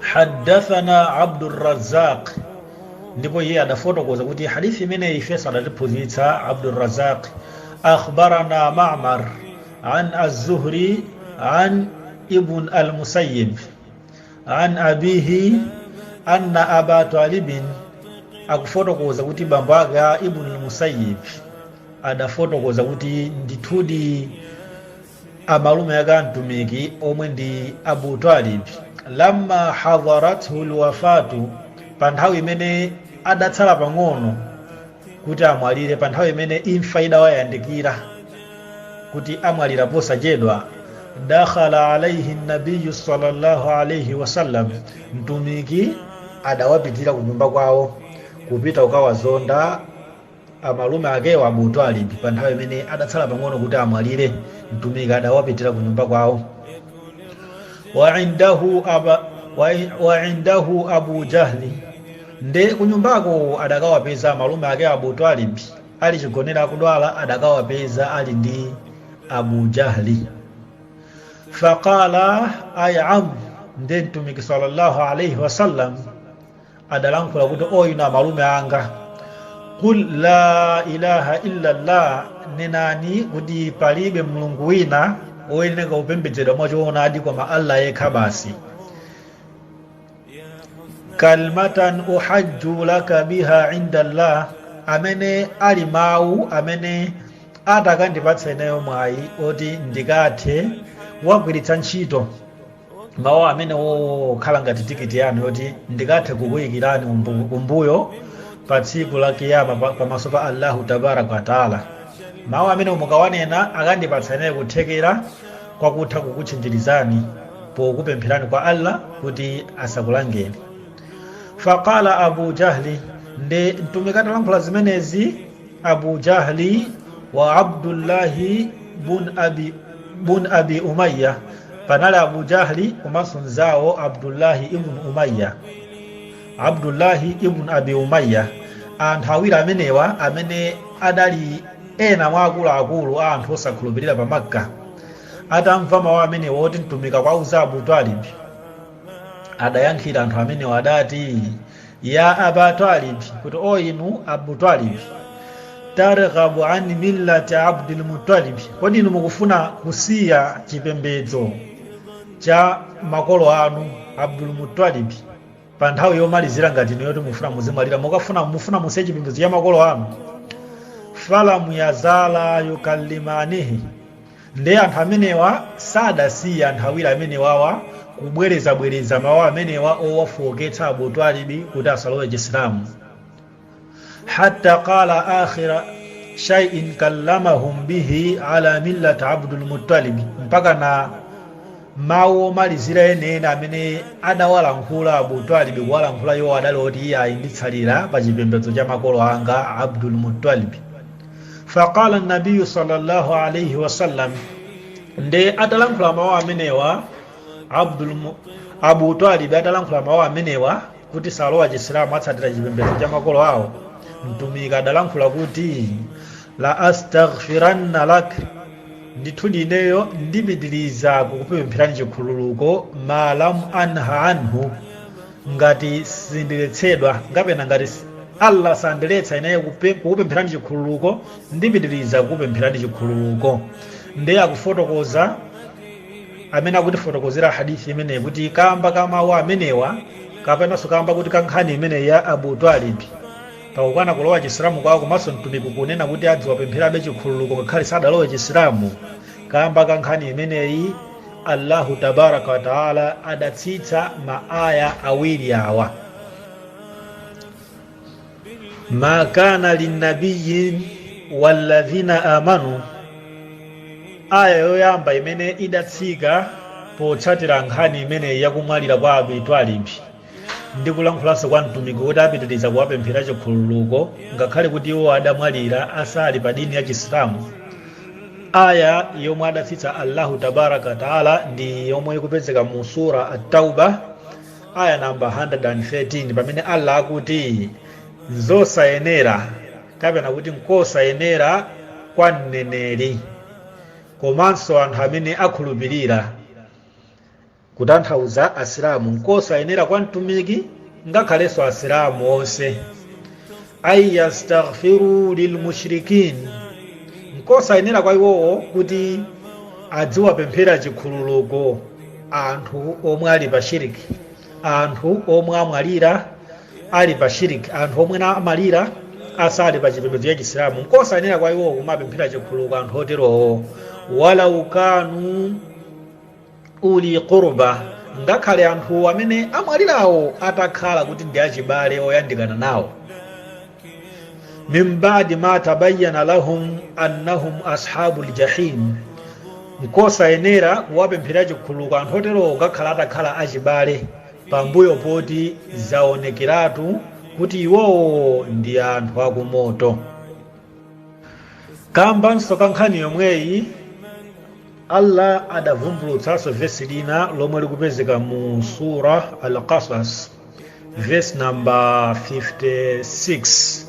haddathana abdurazaq ndipo iye adafotokoza kuti hadithi imeneyi ifenso adatiphunzitsa abdurazaq akhbarana mamar an az-zuhri an ibn al-musayyib an abihi anna aba talibin akufotokoza kuti bambo ake a ibn al-musayyib adafotokoza kuti ndithudi amalume ake a Mtumiki omwe ndi Abu Talib, lamma hadharathul lwafaatu, pa nthawi imene adatsala pang'ono kuti amwalire, pa nthawi imene imfa idawayandikira kuti amwalira posachedwa, dakhala alaihi nabiyu sallallahu alaihi wasallam, Mtumiki adawapitira kunyumba kwawo kupita kukawazonda. Amalume akewo, Abu Twalib, pa nthawi imene adatsala pang'ono kuti amwalire, Mtumiki adawapitira ku nyumba kwawo. Wa indahu Abu Jahli. Nde kunyumbako adakawapeza amalume ake a Abu Twalib ali chigonere akudwala, adakawapeza ali ndi Abu Jahli. Faqala ay am, nde Mtumiki sallallahu alaihi wasallam adalankhula kuti o inu amalume anga qul la ilaha illa llah nenani kuti palibe mulungu wina woyeneka kupembedzedwa mwachoonadi koma allah yekha basi kalimatan uhajju laka biha inda llah amene ali mawu amene atakandipatsa ineyo mwayi oti ndikathe kuwagwiritsa ntchito mawu amenewo kukhala ngati tikiti yanu yoti ndikathe kukuyikirani kumbuyo pa tsiku la kiyama pamaso pa allahu tabaraka wataala mawu amene mukawanena akandipatsa ineyo kuthekera kwakutha kukutchinjirizani pokupempherani kwa allah kuti asakulangeni faqala abu jahli nde mtumiki atalankhula zimenezi abu jahli wa abdullahi bun abi umaya panali abu jahli komanso mnzawo abdullahi ibn umaya abdullahi ibn abi umaya anthu awiri amenewa amene adali ena mwa akuluakulu a anthu osakhulupirira pa makka atamva mawu amenewa oti mtumiki akuwauza abu talibi adayankhira anthu amenewa adati ya aba talibi kuti o inu abu talibi targhabu an millati abdul mutalibi kodi inu mukufuna kusiya chipembedzo cha makolo anu abdul mutalibi pa nthawi yomalizira ngati ino yoti mufuna muzimwalira mufuna mufuna musiye chipembedzo cha makolo anu falam yazala yukallimanihi Nde anthu amenewa sadasiye anthu awiri amenewawa kubwerezabwereza mawu amenewa owafooketsa Abu Twalib kuti asalowe Chisilamu. Hatta qaala akhira shay'in kallamahum bihi ala millat Abdul Muttalib mpakana mawu omalizira enieni amene adawalankhula Abu Twalib kuwalankhula iwo adali oti iyayi nditsalira pa chipembedzo cha makolo anga Abdul Muttalib. faqala an-nabiy sallallahu alayhi wa sallam nde atalankhula mawu amenewa Abu Talib atalankhula mawu amenewa kuti salowa chisilamu atsatira chipembedzo cha makolo awo mtumiki adalankhula kuti la astaghfiranna lak ndithu ndineyo ndipitiriza kukupempherani chikhululuko ma lam unha anhu ngati sindiletsedwa, kapena ngati Allah sandiletsa ineyo kukupempherani chikhululuko, ndipitiriza kukupempherani chikhululuko. Ndiye akufotokoza amene akutifotokozera hadith imeneyi kuti kamba ka mawu amenewa kapenanso kamba kuti ka nkhani imeneyi ya Abu Talib pakukana kulowa Chisilamu kwawo komanso mtumiki kunena kuti adziwapempherabe chikhululuko ngakhale sadalowe Chisilamu kamba ka nkhani imeneyi allahu tabaraka wataala adatsitsa maaya awiri awa ma kana linnabiyin walladhina amanu aya yoyamba imene idatsika potsatira nkhani imeneyi yakumwalira kwa Abu Talib Ndi kulankhulanso kwa Mtumiki kuti apitiriza kuwapemphera chikhululuko ngakhale kuti iwo adamwalira asali pa dini ya Chisilamu. Aya yomwe adatsitsa Allahu Tabaraka wa Taala ndi yomwe ikupezeka mu Sura At-Taubah aya namba 113 pamene Allah akuti nzosayenera kapena kuti nkosayenera kwa mneneri komanso anthu amene akhulupirira kutanthauza asilamu nkosayenera kwa mtumiki ngakhalenso asilamu onse an yastaghfiru lilmushrikin nkosayenera kwa iwowo kuti adziwapemphera chikhululuko anthu omwe ali pa shiriki anthu omwe amwalira ali pa shiriki anthu omwe na- amwalira asali pa chipembedzo cha chisilamu nkosayenera kwa iwowo kumapemphera chikhululuko anthu oterowo walau kanu uli qurba, ngakhale anthu amene amwalirawo atakhala kuti ndi achibale oyandikana nawo min ba'di ma tabayyana lahum annahum ashabul jahim, nkosayenera kuwapemphera chikhululuko anthu oterowo ngakhale atakhala achibale pambuyo poti zaonekeratu kuti iwowo ndi anthu akumoto kambanso ka nkhani yomweyi Allah adavumbulutsanso vesi lina lomwe likupezeka mu sura Al-Qasas vesi namba 56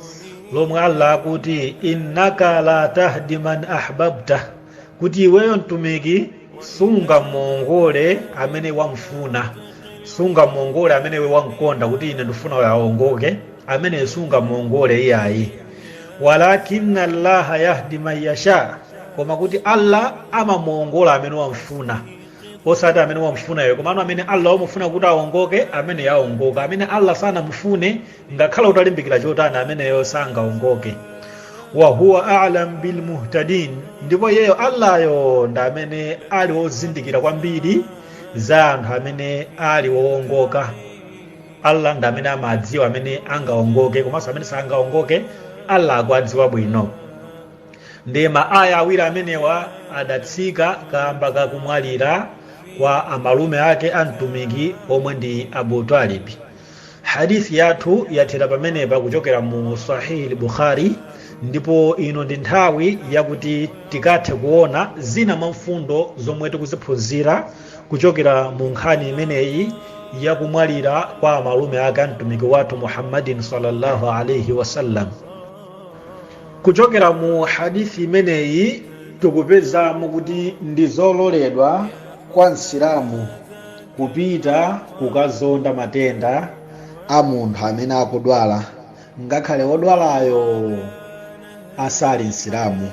lomwe Allah akuti innaka la tahdi man ahbabta kuti iweyo mtumiki sungamuongole amene wamfuna sungamuongole amene iwe wamkonda kuti ine ndifuna uyo aongoke amene sungamuongole iyayi Walakinna Allaha yahdi man yasha, koma kuti Allah amamuongola amene wamfuna, osati amene wamfuna iwe, komano amene Allah wamufuna kuti aongoke, amene aongoka, amene Allah sanamufune, ngakhale utalimbikira chotani, ameneyo sangaongoke. Wa huwa a'lam bil muhtadin, ndipo iyeyo Allahyo ndi amene ali ozindikira kwambiri za anthu amene ali oongoka. Allah ndi amene amadziwa amene angaongoke komanso amene sangaongoke Allah akuwadziwa bwino ndi ma aya awiri amenewa adatsika kaamba ka kumwalira kwa amalume ake a mtumiki omwe ndi Abu Talib hadithi yathu yathera pamenepa kuchokera mu Sahih Bukhari ndipo ino ndi nthawi yakuti tikathe kuona zina mwa mfundo zomwe tikuziphunzira kuchokera mu nkhani imeneyi ya kumwalira kwa amalume ake a mtumiki wathu muhammadin sallallahu alaihi wasallam kuchokera mu hadithi imeneyi tikupezamo kuti ndi zololedwa kwa msilamu kupita kukazonda matenda a munthu amene akudwala ngakhale wodwalayo asali msilamu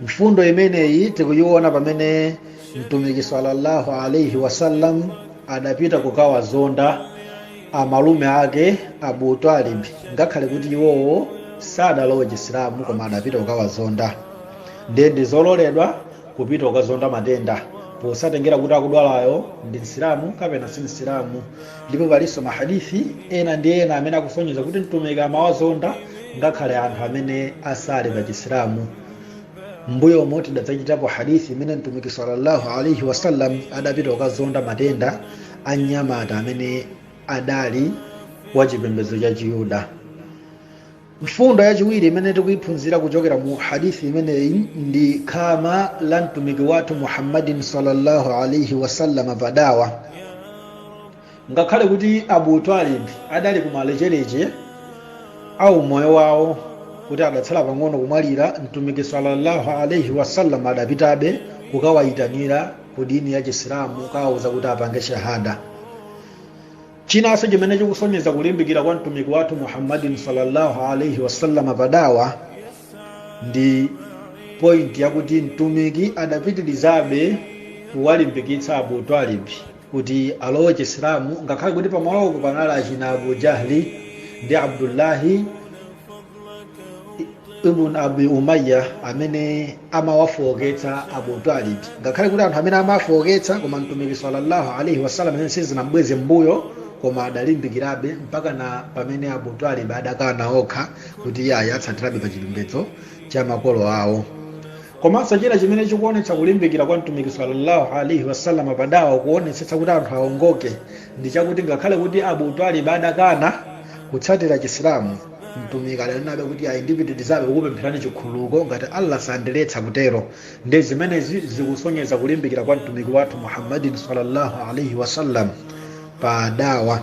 Mfundo imeneyi tikuyiona pamene Mtumiki sallallahu alaihi wasallam adapita kukawazonda amalume ake Abu Talib ngakhale kuti iwowo sadalowe Chisilamu koma adapita kukawazonda. Ndiye ndizololedwa kupita kukazonda matenda posatengera kuti akudwalayo ndi Msilamu kapena si Msilamu. ndipo palinso mahadith ena ndi ena amene akusonyeza kuti mtumiki amawazonda ngakhale anthu amene asali pa chisilamu m'mbuyomu tidadzachitapo hadithi imene mtumiki sallallahu alaihi wasallam adapita kukazonda matenda a mnyamata amene adali wa chipembedzo cha chiyuda Mfundo yachiwiri imene tikuiphunzira kuchokera mu hadith imeneyi ndi khama la mtumiki wathu Muhammadin sallallahu alaihi wasallam pa dawa. Ngakhale kuti Abu Talib adali kumalecheleche a moyo wawo kuti adatsala pang'ono kumwalira, mtumiki sallallahu alaihi wasallam adapitabe kukawayitanira ku dini ya Chisilamu kukawauza kuti apange shahada. Chinanso chimene chikusonyeza kulimbikira kwa mtumiki wathu Muhammadin sallallahu alaihi wasallam pa dawa ndi pointi yakuti mtumiki adapitirizabe kuwalimbikitsa Abu Talib kuti alowe Chisilamu ngakhale kuti pamalopo panali achina Abu Jahli ndi Abdullahi ibn abi umayya amene amawafooketsa abu talib ngakhale kuti anthu amene amawafooketsa koma mtumiki sallallahu alaihi wasallam zimenezi sizinambweze mbuyo koma adalimbikirabe mpaka na pamene abu talib adakana okha kuti iye atsatirabe pa chipembedzo cha makolo awo komanso china chimene chikuonetsa kulimbikira kwa mtumiki sallallahu alaihi wasallam pa dawa kuonetsetsa kuti anthu aongoke ndi chakuti ngakhale kuti abu talib adakana kutsatira chisilamu mtumiki adanenabe kuti ayi ndipitirizabe kukupempherani chikhululuko ngati allah sandiletsa kutero ndi zimenezi zikusonyeza kulimbikira kwa mtumiki wathu muhammadin sallallahu alaihi wasallam pa dawa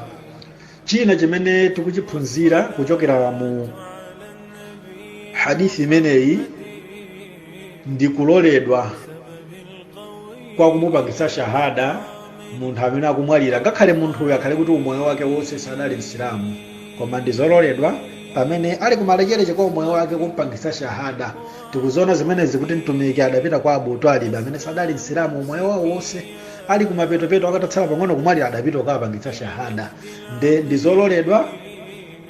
china chimene tikuchiphunzira kuchokera mu hadithi imeneyi ndi kuloledwa kwa kumupangitsa shahada munthu amene akumwalira ngakhale munthuyo akhale kuti umoyo wake wonse sadali msilamu koma ndi zololedwa pamene ali kumalechereche kwa umoyo wake kumpangitsa shahada tikuziona zimenezi kuti mtumiki adapita kwa abu talib amene sadali msilamu umoyo wawo wonse ali kumapetopeto angotsala pang'ono kumwalira adapita kukawapangitsa shahada nde ndi zololedwa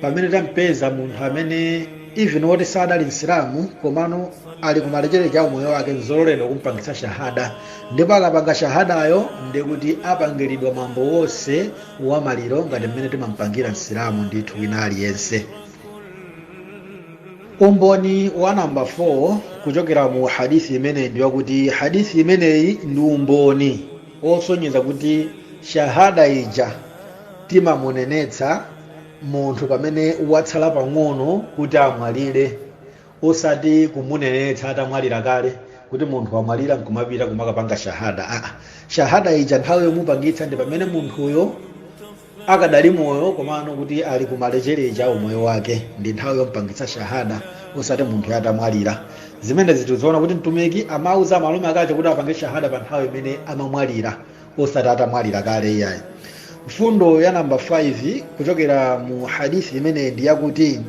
pamene tampeza munthu amene even woti sadali msilamu komano ali kumalechereche a umoyo wake nzololedwa kumpangitsa shahada ndipo akapanga shahadayo ndikuti apangiridwa mwambo wonse wa maliro ngati mmene timampangira msilamu ndithu wina aliyense umboni wa namba 4 kuchokera mu hadithi imeneyi ndi wakuti hadithi imeneyi ndi umboni wosonyeza kuti shahada ija timamunenetsa munthu pamene watsala pang'ono kuti amwalire osati kumunenetsa atamwalira kale kuti munthu wamwalira nkumapita kumakapanga shahada aa shahada ija nthawi yomupangitsa ndi pamene munthuyo akadali moyo komano kuti ali kumalechereche a umoyo wake ndi nthawi yompangitsa shahada osati munthu atamwalira zimenezi tiziona kuti mtumiki amauza amalume akewo kuti apange shahada pa nthawi imene amamwalira osati atamwalira kale iyayi mfundo ya namba 5 kuchokera mu hadithi imeneyi ndi yakuti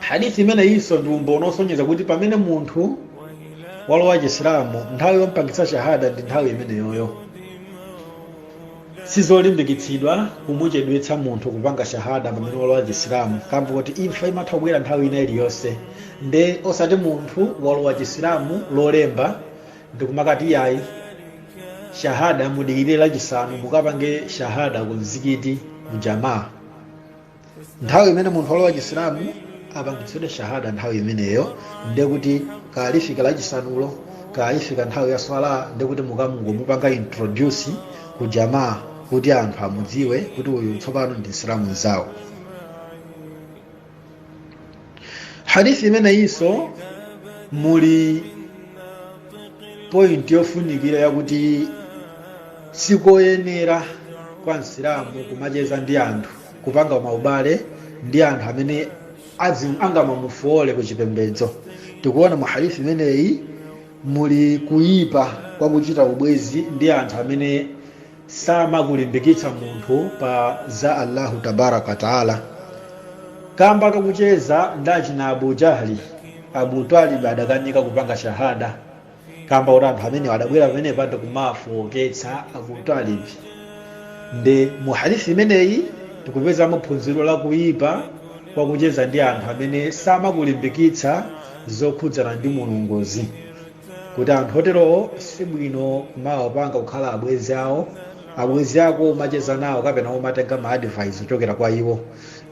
hadithi imeneyinso ndi umboni wosonyeza kuti pamene munthu walowa chisilamu nthawi yompangitsa shahada ndi nthawi imeneyoyo sizolimbikitsidwa kumuchedwetsa munthu kupanga shahada pamene walowa chisilamu kamba koti imfa imatha kubwera nthawi ina iliyonse nde osati munthu walowa chisilamu lolemba ndikumakati iyayi shahada mudikirire lachisanu mukapange shahada ku mzikiti mu jamaa nthawi imene munthu walowa chisilamu apangitsidwe shahada nthawi imeneyo ndekuti likafika lachisanulo ikafika nthawi ya swala ndekuti mukangomupanga introduce ku jamaa kuti anthu amudziwe kuti uyu tsopano ndi msilamu mzawo hadithi imeneyinso muli point yofunikira yakuti sikoyenera kwa msilamu kumacheza ndi anthu kupanga maubale ndi anthu amene angamamufoole ku chipembedzo tikuona mu hadithi imeneyi muli kuyipa kwa kuchita ubwezi ndi anthu amene samakulimbikitsa munthu pa za Allahu tabaraka wa taala kamba kakucheza ndi achina Abu Jahli Abu Talib adakanika kupanga shahada kamba kuti anthu amenewa adabwera pamenepa ndi kumafooketsa Abu Talib nde mu hadithi imeneyi tikupezamo phunziro la kuyipa kwa kucheza ndi anthu amene samakulimbikitsa zokhudzana ndi Mulunguzi kuti anthu oterowo si bwino kumawapanga kukhala abwezi awo abwezi ako umacheza nawo kapena umatenga ma advice kuchokera kwa iwo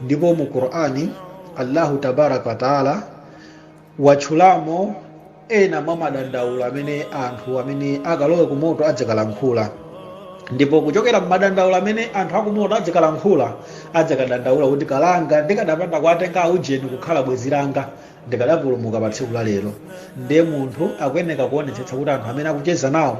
ndipo mu qur'ani allahu tabaraka wataala watchulamo ena mwa madandaulo amene anthu amene akalowe ku moto adzakalankhula ndipo kuchokera mmadandaulo amene anthu akumoto adzakalankhula adzakadandaula kuti kalanga ndikadapanda kuwatenga aujeni kukhala bwezi langa ndikadapulumuka pa tsiku la lero ndiye munthu akuyeneka kuonetsetsa kuti anthu amene akucheza nawo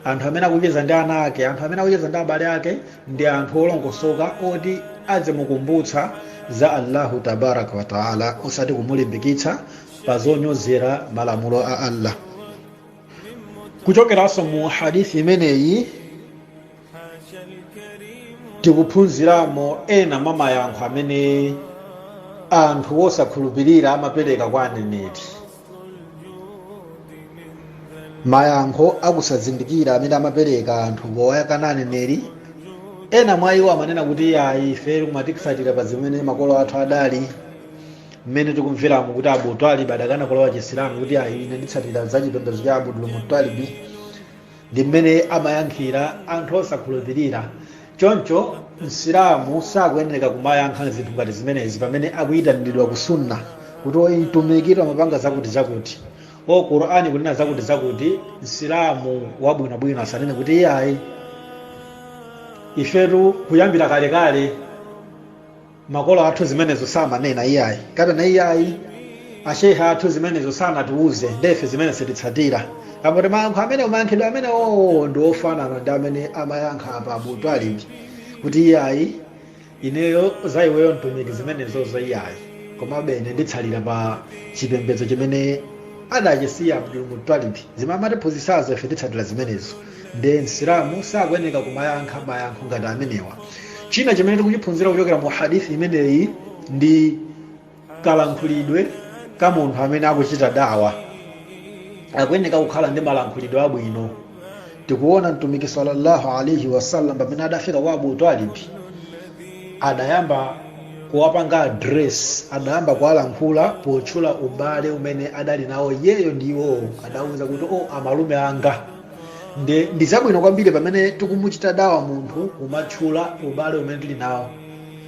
anthu amene akucheza ndi ana ake anthu amene akucheza ndi abale ake ndi anthu olongosoka oti azimukumbutsa za allahu tabaraka wataala osati kumulimbikitsa pa zonyozera malamulo a allah kuchokeranso mu hadithi imeneyi Tikuphunziramo ena mwa mayankho amene anthu osakhulupirira amapereka kwa aneneri. Mayankho a kusazindikira amene amapereka anthu powakana aneneri, ena mwa iwo amanena kuti iyayi ife tikumatsatira pa zimene makolo athu adali mmene tikumveramo kuti Abu Talib adakana kulowa Chisilamu kuti ayi ine nditsatira za chipembedzo cha Abdul Muttalib ndi mmene amayankhira anthu osakhulupirira choncho msilamu sakuyenereka kumayankha zinthu ngati zimenezi pamene akuyitaniridwa ku sunna kuti o mtumiki amapanga zakuti zakuti o qur'ani ikunena zakuti zakuti msilamu wabwinobwino asanene kuti iyayi ifetu kuyambira kalekale makolo athu zimenezo samanena iyayi kapena iyayi asheikha athu zimenezo sanatiuze ndefe zimene sititsatira apo mayankho amene mayankhidwe amene oo ndi ofanana ndi amene amayankha apa abu twalibi kuti iyayi ineyo za iweyo mtumiki zimenezozo iyayi komabe ine nditsatira pa chipembedzo chimene adachisiya abdul mutalibi zimene amatiphunzitsazo ife titsatira zimenezo nde msilamu sakuyeneka kumayankha mayankho ngati amenewa china chimene tikuchiphunzira kuchokera mu hadithi imeneyi ndi kalankhulidwe ka munthu amene akuchita dawa akuyeneka kukhala ndi malankhulidwe abwino tikuona mtumiki sallallahu alaihi wasallam pamene adafika kwa abu talibi adayamba kuwapanga address adayamba kuwalankhula potchula ubale umene adali nawo iyeyo ndi iwowo adawuza kuti o amalume anga nde ndi zabwino kwambiri pamene tikumuchita dawa munthu kumatchula ubale umene tili nawo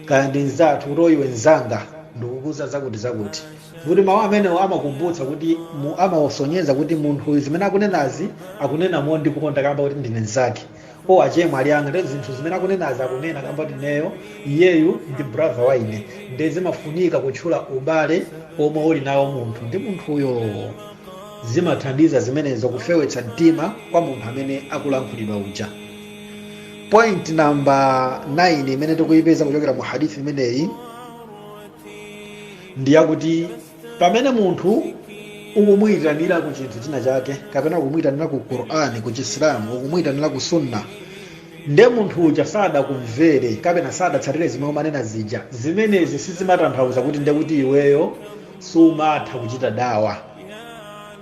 kaya ndi mzathu kuti o iwe mzanga ndikukuuza zakuti zakuti kuti mawu amenewo amakumbutsa kuti mu- amawasonyeza kuti munthu uyu zimene akunenazi akunena mondikonda kamba kuti ndine mzake o achemwali anga nde zinthu zimene akunenazi akunena kamba kuti neyo iyeyu ndi brother wa ine nde zimafunika kutchula ubale omwe ulinawo munthu ndi munthuyo Zimathandiza zimenezo kufewetsa mtima kwa munthu amene akulankhulidwa uja. Point number 9 imene tikuyipeza kuchokera mu hadith imeneyi ndi yakuti pamene munthu ukumuyitanira ku chinthu china chake kapena ukumuyitanira ku Qur'ani ku Chisilamu ukumuyitanira ku sunna nde munthu uja sadakumvere kapena sadatsatire zimene umanena zija zimenezi sizimatanthauza kuti nde kuti iweyo sumatha kuchita dawa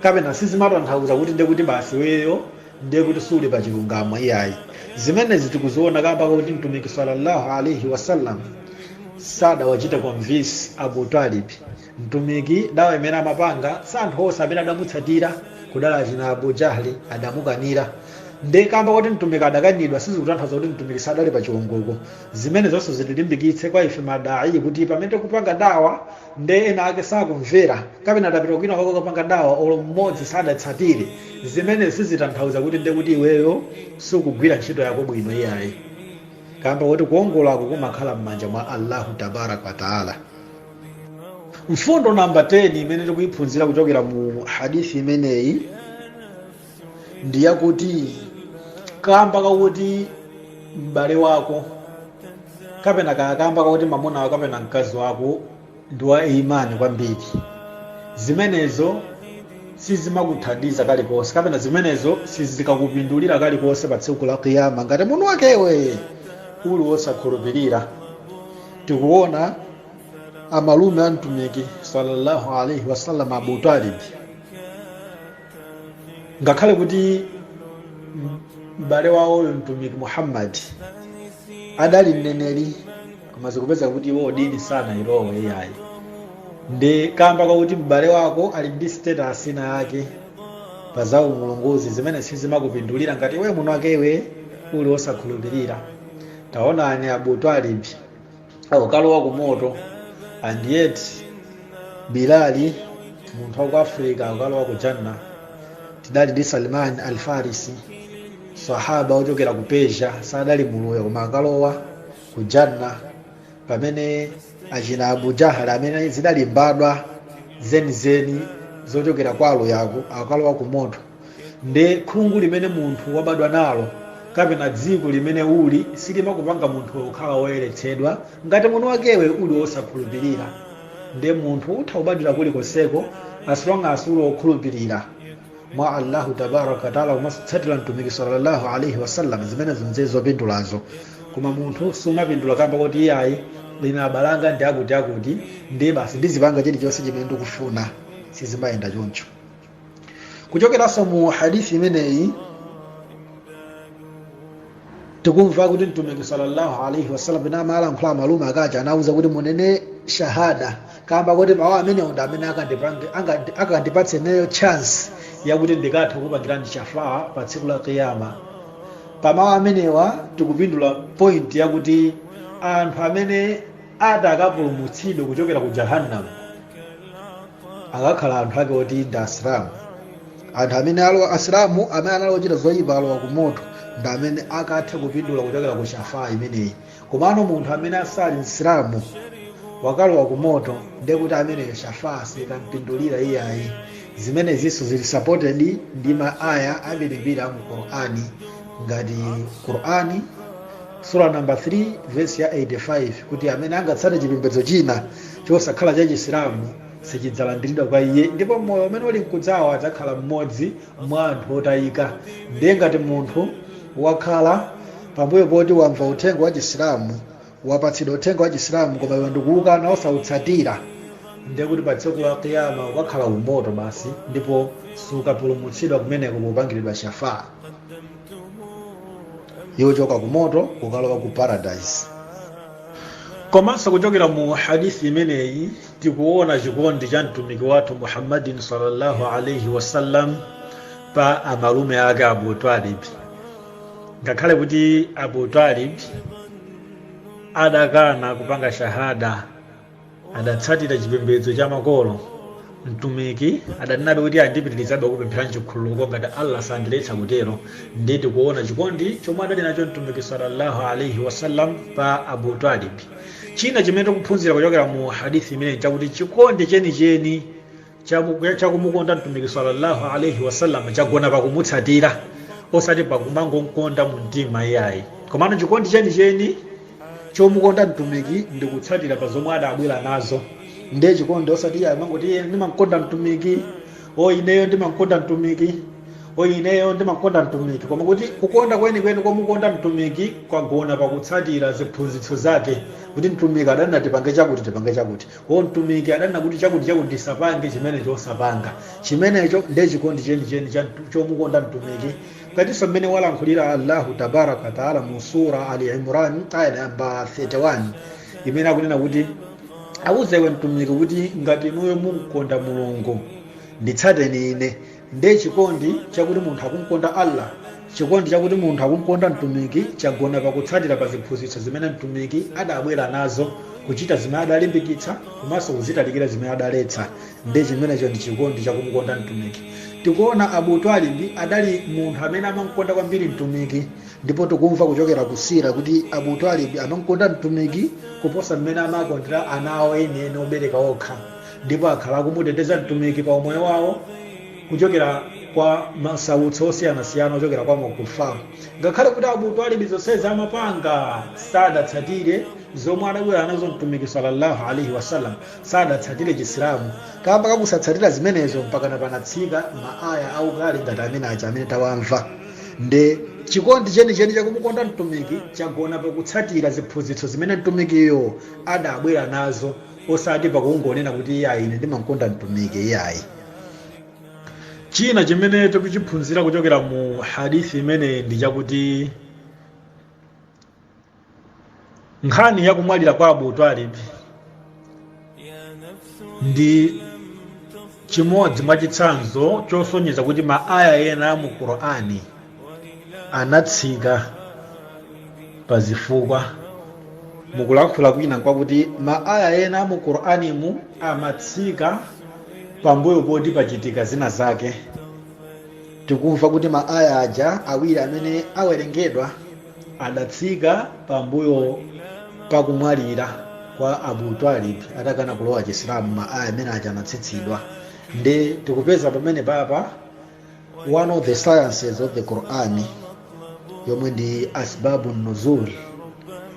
kapena sizimatanthauza kuti ndiye kuti basi iweyo ndiye kuti suli pa chilungamo iyayi zimenezi tikuziona kamba kakuti mtumiki sallallahu alaihi wasallam sadawachite convince abu talib mtumiki dawa imene amapanga si anthu onse amene adamutsatira kudali achina abu jahli adamukanira nde kamba kuti mtumiki adakanidwa sizikutanthauza kuti mtumiki sadali pa chiongoko zimenezo nde zitilimbikitse kwa ife ma dai kuti pamene tikupanga dawa nde ena ake sakumvera kapena tapita kwina kwake kukapanga dawa olo mmodzi sadatsatire zimenezi sizitanthauza kuti nde kuti iweyo sukugwira ntchito yako bwino iyayi kamba kuti kuongolako kumakhala m'manja mwa allahu tabaraka wataala mfundo namba 10 imene tikuyiphunzira kuchokera mu hadithi imeneyi ndi yakuti kamba kakuti m'bale wako kapena ka- kamba kakuti mamuna wako kapena mkazi wako ndi wa imani kwambiri zimenezo sizimakuthandiza kalikonse kapena zimenezo sizikakupindulira kalikonse pa tsiku la kiyama ngati munthu wakewe uli wosakhulupirira tikuona amalume a mtumiki sallallahu alaihi wasallam abu talibi ngakhale kuti m- m'bale wawoyo mtumiki muhammadi adali mneneri koma zikupeza kuti iwo dini sanayilowe iyayi nde kamba kwakuti m'bale wako ali ndi status ina yake pa za umulungu zimenezi sizimakupindulira ngati iwe mwini wakewe uli wosakhulupirira taonani abu talibi akalowa ku moto and yet bilali munthu wa ku africa akalowa ku janna tidali ndi salman al farisi sahaba ochokera ku persia sadali muluya koma akalowa ku janna pamene achina abu jahal amene zidali mbadwa zenizeni zochokera kwa aluyako akalowa ku moto Nde khungu limene munthu wabadwa nalo kapena dziko limene uli silimakupanga munthuwe kukhala woyeretsedwa ngati mwini wakewe uli wosakhulupirira. Nde munthu utha kubadwira kulikonseko as long as uli wokhulupirira mwa Allahu Tabaaraka wa Ta'la komanso kutsatira Mtumiki Sallallahu Alayhi Wasallam, zimenezo nde zopindulazo. Koma munthu sumapindula kamba koti iyayi ine abale anga ndi akuti akuti nde basi ndizipanga chilichonse chimene ndikufuna, sizimayenda choncho. kuchokeranso mu hadithi imeneyi tikumva kuti mtumiki sallallahu alaihi wasallam pena amalankhula ndi amalume akaja anauza kuti munene shahada kamba kuti mawu amenewa ndi amene akandipatse ineyo chance yakuti ndikathe kukupangirani shafaa pa tsiku la kiyama pamawu amenewa tikupindula point yakuti anthu amene ati akapulumutsidwe kuchokera ku jahannam akakhala anthu ake oti ndi asilamu anthu amene ali asilamu amene anali ochita zoyipa alowa ku moto ndi amene akathe kupindula kuchokera ku shafaa imeneyi komano munthu amene asali msilamu wakalowa ku moto ndiye kuti ameneyo shafaa sikampindulira iyayi zimenezinso zili supported ndi ma aya ambirimbiri a mu qur'ani ngati qur'ani sura number 3 verse ya 85 kuti amene angatsate chipembedzo china chosakhala cha Chisilamu sichidzalandiridwa kwa iye ndipo mmoyo umene uli nkudzawo adzakhala mmodzi mwa anthu otayika. Ndiye ngati munthu wakhala pambuyo poti wamva uthenga wa Chisilamu, wapatsidwa uthenga wa Chisilamu koma iweyo ndikuwukana osautsatira, ndiye kuti pa tsiku la Qiyama ukakhala ku moto basi ndipo sukapulumutsidwa kumeneko popangiridwa shafaa. yochoka ku moto kukalowa ku paradise komanso kuchokera mu hadithi imeneyi tikuona chikondi cha mtumiki wathu muhammadi sallallahu alaihi wasallam pa amalume ake abu talib ngakhale kuti abu talib adakana kupanga shahada adatsatira chipembedzo cha makolo mtumiki adanenabe kuti ndipitirizabe kukupempherani chikhululuko ngati allah sandiletsa kutero ndiye tikuona chikondi chomwe adali nacho mtumiki sallallahu alaihi wasallam pa abu talib china chimene tikuphunzira kuchokera mu hadithi imeneyi nchakuti chikondi chenicheni Chakumukonda Mtumiki salla Allah alaih wasallam chagona pa kumutsatira osati pa kumangomkonda mu mtima iyayi. Komano chikondi chenicheni chomukonda Mtumiki ndi kutsatira pa zomwe adabwera nazo. Ndiye chikondi osati iyayi kumangoti ine ndimamkonda Mtumiki, o ineyo ndimamkonda Mtumiki, o ineyo ndimamkonda Mtumiki. Koma kuti kukonda kwenikweni komukonda Mtumiki kwagona pa kutsatira ziphunzitso zake kuti Mtumiki adanena tipange chakuti tipange chakuti. O Mtumiki adanena kuti chakuti chakuti tisapange chimenecho osapanga. Chimenecho nde chikondi chenicheni chomukonda Mtumiki. Ngatinso mmene walankhulira Allahu tabaaraka wa taala mu Sura Al Imran aya number 31 imene akunena kuti Auze iwe Mtumiki kuti ngati inuyo mumkonda Mulungu nditsateni ine Nde chikondi chakuti munthu akumkonda Allah, chikondi chakuti munthu akumkonda Mtumiki chagona pa kutsatira pa ziphunzitso zimene Mtumiki adabwera nazo, kuchita zimene adalimbikitsa komanso kuzitalikira zimene adaletsa. Nde chimenecho ndi chikondi chakumukonda Mtumiki. Tikuona Abu Twalib adali munthu amene amamkonda kwambiri Mtumiki, ndipo tikumva kuchokera ku Seerah kuti Abu Twalib amamkonda Mtumiki kuposa mmene amakondera ana awo enieni obereka okha. ndipo akhala akumuteteza Mtumiki pa umoyo wawo kuchokera kwa masautso osiyanasiyana ochokera kwa makufar. Ngakhale kuti Abu Talib zonsezi amapanga sadatsatire zomwe adabwera nazo Mtumiki sallallahu alaihi wasallam, sadatsatire Chisilamu kamba kakusatsatira zimenezo mpaka panatsika maaya aukali ngati amene aja amene tawamva nde chikondi chenicheni chakumukonda Mtumiki chagona pakutsatira ziphunzitso zimene Mtumikiyo adabwera nazo. osati pakungonena kuti iyayi ine ndimamkonda mtumiki iyayi china chimene tikuchiphunzira kuchokera mu hadithi imeneyi ndi chakuti nkhani ya kumwalira kwa abu talib ndi chimodzi mwa chitsanzo chosonyeza kuti ma aya ena a mu qur'ani anatsika pa zifukwa mukulankhula kwina nkwakuti ma aya ena a mu qur'animu amatsika pambuyo poti pachitika zina zake tikumva kuti ma aya aja awiri amene awerengedwa adatsika pambuyo pakumwalira kwa abu talib atakana kulowa chisilamu ma aya amene aja anatsitsidwa nde tikupeza pamene papa one of the sciences of the quran yomwe ndi asbabu nuzul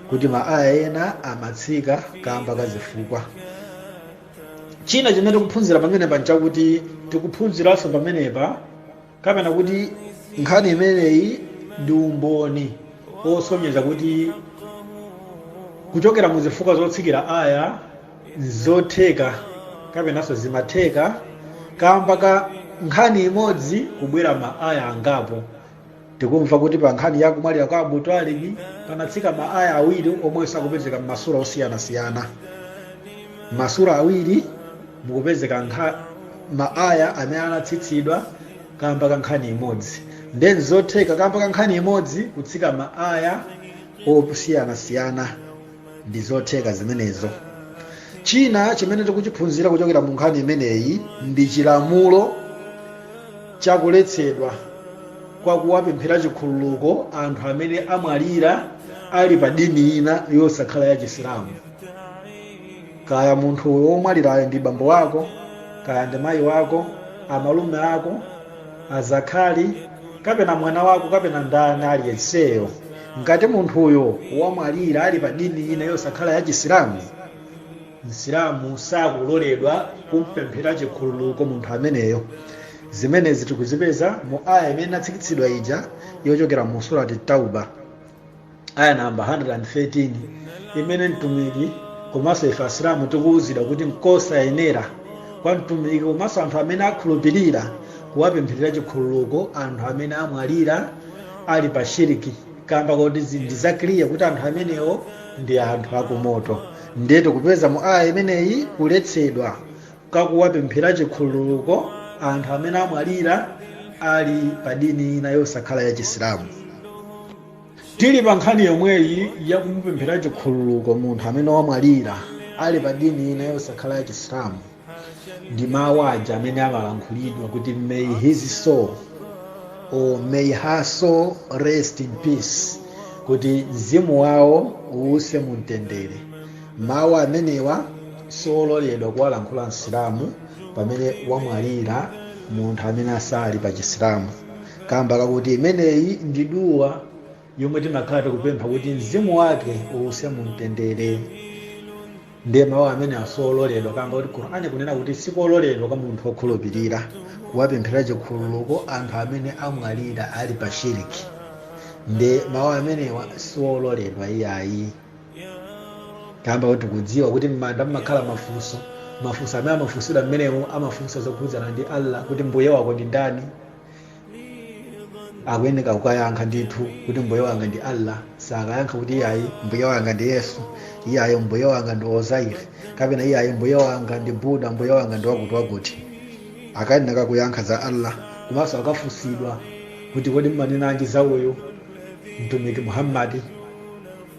kuti maaya ena amatsika kamba ka zifukwa china chimene tikuphunzira pamenepa nchakuti tikuphunziranso pamenepa kapena kuti nkhani imeneyi ndi umboni osonyeza kuti kuchokera mu zifukwa zotsikira aya nzotheka kapenanso zimatheka kamba ka nkhani imodzi kubwera maaya angapo tikumva kuti pa nkhani ya kumwalira kwa abu talibi panatsika maaya awiri omwenso akupezeka m'masura osiyanasiyana m'masura awiri mukupezeka nkha maaya amene anatsitsidwa kamba ka nkhani imodzi nde nzotheka kamba ka nkhani imodzi kutsika maaya osiyanasiyana ndi zotheka zimenezo china chimene tikuchiphunzira kuchokera mu nkhani imeneyi ndi chilamulo chakuletsedwa kwa kuwapemphera chikhululuko anthu amene amwalira ali pa dini ina yosakhala ya chisilamu kaya munthu womwalirayo ndi bambo wako kaya ndi mayi wako amalume ako azakhali, kapena mwana wako kapena ndani aliyenseyo, ngati munthuyo wamwalira ali pa dini ina yosakhala ya Chisilamu, Msilamu sakuloledwa kumpemphera chikhululuko munthu ameneyo. Zimenezi tikuzipeza mu Ayah imene inatsikitsidwa ija yochokera mu Surat Tauba. aya namba 113 imene mtumiki komanso ife asilamu tikuwuzidwa kuti nkosayenera kwa mtumiki komanso anthu amene akhulupirira kuwapempherera chikhululuko anthu amene amwalira ali pa shiriki kamba koti ndi zachidziwikire kuti anthu amenewo ndi anthu akumoto ndiye tikupeza mu aya imeneyi kuletsedwa kakuwapemphera chikhululuko anthu amene amwalira ali pa dini ina yosakhala ya chisilamu Tili pa nkhani yomweyi ya kumupemphera chikhululuko munthu amene wamwalira ali pa dini ina yosakhala ya Chisilamu, ndi mawu aja amene amalankhulidwa kuti may his soul or may her soul rest in peace, kuti mzimu wawo uwuse mu mtendere. Mawu amenewa siololedwa kuwalankhula Msilamu pamene wamwalira munthu amene asali pa Chisilamu. Kamba kakuti imeneyi ndi duwa yomwe timakhala tikupempha kuti mzimu wake uuse mumtendere. Ndiye mawu amenewa siololedwa kamba kuti Qur'an ikunena kuti sikololedwa kwa munthu okhulupirira kuwapemphera chikhululuko anthu amene amwalira ali pa shiriki. Nde mawu amenewa siololedwa iyayi. Kamba kuti tikudziwa kuti m'manda mumakhala mafunso, mafunso amene amafunsidwa mmenemo amafunsa zokhudzana ndi Allah kuti mbuye wako ndi ndani? akuyeneka kukayankha ndithu kuti mbuye wanga ndi allah osakayankha kuti iyayi mbuye wanga ndi yesu iyayi mbuye wanga ndi ozair kapena iyayi mbuye wanga ndi buda mbuye wanga ndi wakuti wakuti akuyeneka kuyankha za allah komanso akafunsidwa kuti kodi mmanenanji za uyu mtumiki muhammadi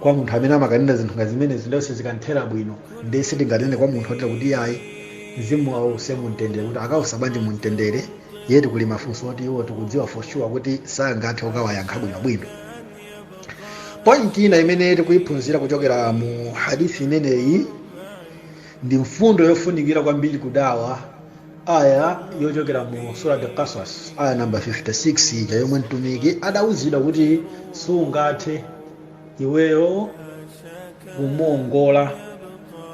kwa munthu amene amakanena zinthu ngati zimenezi ndiye sizikanthera bwino ndiye sitinganene kwa munthu otera kuti ayi mzimu wawo use mumtendere kuti akausa bwanji mumtendere yeti kuli mafunso oti iwo tikudziwa for sure kuti sangathe kukawayankha bwinobwino point ina imene tikuyiphunzira kuchokera mu hadithi imeneyi ndi mfundo yofunikira kwambiri kudawa aya yochokera mu surat al-qasas aya namba 56 ija yomwe mtumiki adawuzidwa kuti sungathe iweyo kumuongola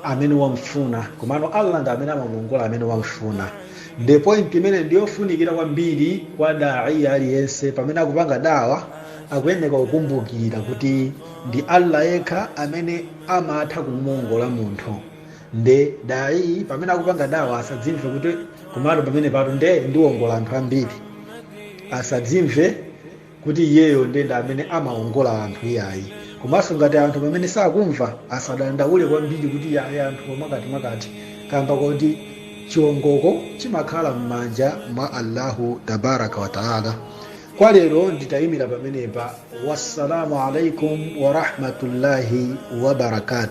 amene wamfuna komano allah ndi amene amamuongola amene wamfuna nde point imene ndiyofunikira kwambiri kwa dai aliyense pamene akupanga dawa akuyeneka kukumbukira kuti ndi allah yekha amene amatha kumuongola munthu nde dai pamene akupanga dawa asadzimve kuti komatu pamenepatu nde ndiwongola anthu ambiri asadzimve kuti iyeyo ndiye ndi amene amaongola anthu iyayi komanso ngati anthu pamene sakumva asadandaule kwambiri kuti iyayi anthu mwakuti mwakuti kamba koti chiongoko chimakhala m'manja mwa allahu tabaraka wataala kwa lero nditayimira pamenepa wassalamu alaikum warahmatullahi wabarakatu